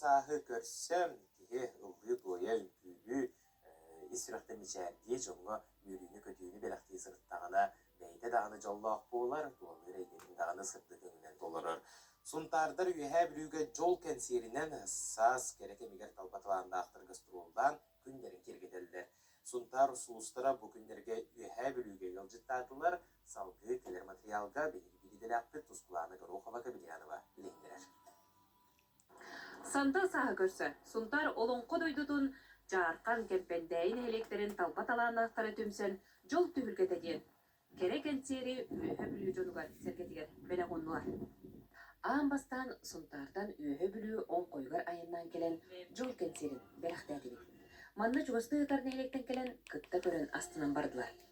сааһы көрсө, киһи ыллыы-туойа, үҥкүүлүү ис сүрэхтэн мичээрдии дьоҥҥо үөрүүнү-көтүүнү бэлэхтии сырыттаҕына бэйэтэ даҕаны дьоллоох буолар, туоллуур эйгэтин даҕаны сырдык өҥүнэн толорор. Сунтаардар Үөһээ Бүлүүгэ дьол кэнсиэринэн саас кэрэ кэмигэр талба талааннаахтар гастроллаан күннэрин киэргэтэллэр. Сунтаар улуустара бу күннэргэ Үөһээ Бүлүүгэ ыалдьыттаатылар. Салгыы кэлэр матырыйаалга биһиги бириидэлээхпит Тускулаана Горохова-Кабельянова билиһиннэрэр. Сандал сааһы көрсө Сунтаар Олоҥхо дойдутун Дьаархан Кэрбэндээйи нэһилиэктэрин талба талааннаахтара түмсэн Дьол түһүлгэтэ диэн кэрэ кэнсиэри Үөһэ Бүлүү дьонугар сэргэтигэр бэлэҕуннулар. Аан бастаан Сунтаартан Үөһэ Бүлүү оҥхойугар айаннаан кэлэн Дьол кэнсиэрин бэлэхтээтибит. Манна чугастыы ытар нэһилиэктэн кэлэн кытта көрөн астынан бардылар.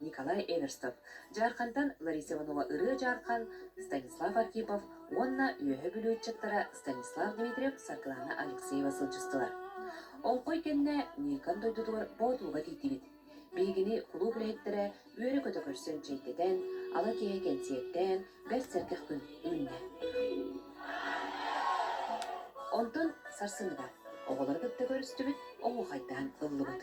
Николай Эверстов, Дьаархантан Лариса Иванова ырыа-дьаархан, Станислав Архипов уонна үөһэ бүлүү ыччаттара Станислав Дмитриев-Саргылана Алексеева сылдьыстылар. Олхой кэннэ Ньыыкан дойдутугар Боотууга тиийдибит. Биһигини кулууп үлэһиттэрэ үөрэ-көтө көрсөн чэйдэтэн, ала киэһэ кэнсиэртээн, бэрт сэргэх күн үүннэ. Онтон сарсыныгар оҕолору кытта көрүстүбүт, оһуохайдаан ыллыбыт.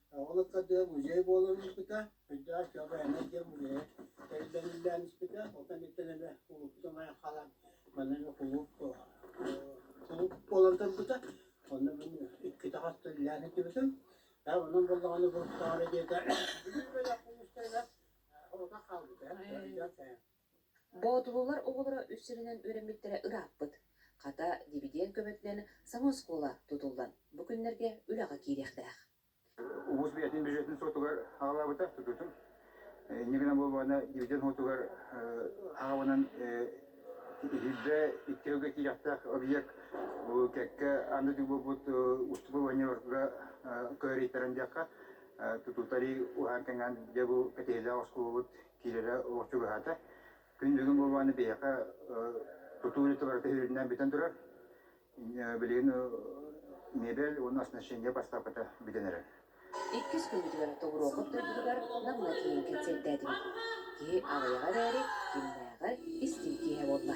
Ол ыккардыгар музей буолан испитэ. Үрдэҕэр Көҕөһөнө диэн музейа тэриллэн испитэ. Ол кэнниттэн эмэ кулууппутун айан хаалан манна эмэ кулууп кулууп буолан турбута. Онно мин иккитэ хастыллаан иттибитим. Һэ онон буоллаҕына бу таара диэтэ бөлөх улуустарыгар оҕото хаалбыта. Дьон Боотулуулар оҕолоро үс сиринэн үөрэммиттэрэ ырааппыт, хата, дивидиэнд көмөтүнэн саҥа оскуола тутуллан, бу күннэргэ үлэҕэ киириэхтээх. Улуус бэйэтин бюджетын суотугар аҕалаабыта тутуутун. Инньэ гынан буолбаҕына, дивиденд уотугар аҕабанан иһирдэ икки ыалга киириэхтээх объект бу кэккэ анда дүү буолбут уступываниеларга кыайарыйтаран диэххэ, тутуутарыы уһаан-кэҥээн дьэ бу кэтэһиилээх оскуолабыт киирэрэ чугаһаата. Күн бүгүн буолбааны биһиэхэ тутуу барыта үрүннээн бүтэн турар. Билигин мебель уонна оснащение бастапката бүтэн эрэр. Иккис күннүтүгэр Тобуруокап дойдутугар Намҥа тиийэн кэнсиэртээтибит. Киһи аҕыйаҕа эрээри, кимнээҕэр истиҥ киэһэ буолла.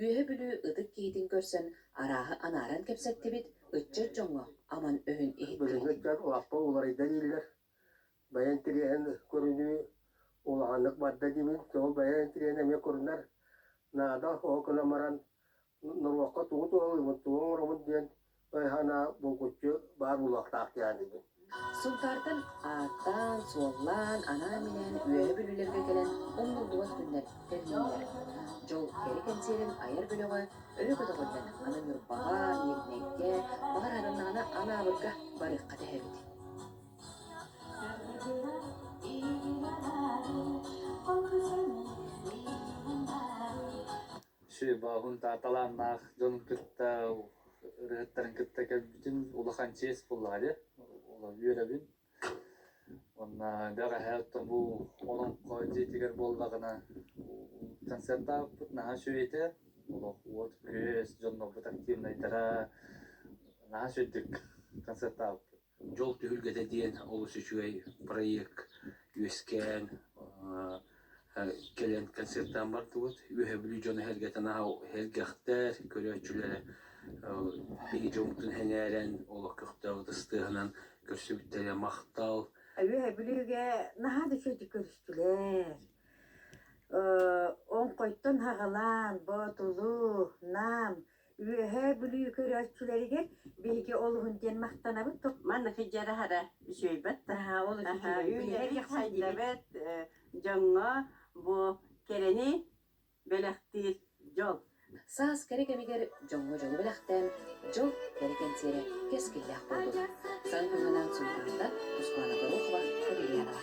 Үөһэ Бүлүү ытык киһитин көрсөн арааһы анааран кэпсэттибит, ыччат дьоҥҥо аман өһүн иһиттибит. Бөһүөлэктэр лаппа уларыйда дииллэр. Бэйэ интириэһин көрүнүү улаханнык барда диибин. Тоҕо бэйэ интириэһин эмиэ көрүнэр наада, оһох гынан баран норуокка тугу туһалыыбын, тугу оҥоробун диэн Өй-санаа булгуччу баар буолуохтаах диэн этим. Сунтаартан ааттаан, суоллаан, анаан-минээн үөһэ бүлүүлэргэ кэлэн умнуллубат күннэр тэринэллэр. Дьол кэрэ кэнсиэрин айар бөлөҕө өрө көтөҕүллэн аны Ньурбаҕа, Ньирнэйгэ, баҕар аданнаҕына Анаабырга барыахха тэһэбит. Бооһун тааталааннаах дьонун кытта ырыаһыттарын кытта көрбүтүм. Улахан чиэс буоллаҕа дии. Үөрэбин. Уонна бэҕэһээ оттон бу Олоҥхо дьиэтигэр буоллаҕына концертаабыппыт наһаа үчүгэй этэ. Олох уот-күөс, дьоннорбут активнайдара наһаа үчүгэй концертаабыппыт. Дьол түһүлгэтэ диэн олус үчүгэй проект үөскээн кэлэн концертаан бардыбыт. Үөһээ Бүлүү дьоно эһэлгэтин эһэлгэхтэр, көрөөччүлэрэ биһиги дьоммутун сэҥээрэн, олох көхтөөх ыстыһынан көрсүбүттэрэ махтал. Үөһээ Бүлүүгэ наһаа да үчүгэйдик көрүстүлэр. Оҥхойтон хаҕалаан, Боотулу, Нам Үөһээ Бүлүү көрөөччүлэригэр биһиги олуһун диэн махтанабыт. Маннык дьараһара үчүгэйбэт таһаа ол үчүгэйи сайдабыт дьоҥҥо бу кэрэни бэлэхтиир дьол. Саас кэрэ кэмигэр дьоҥҥо дьолу бэлэхтээн, дьол кэрэ кэнсиэрэ кэскиллээх буолбут. Сан туһанан Султаната Тускуана Горохова, Эмилианова.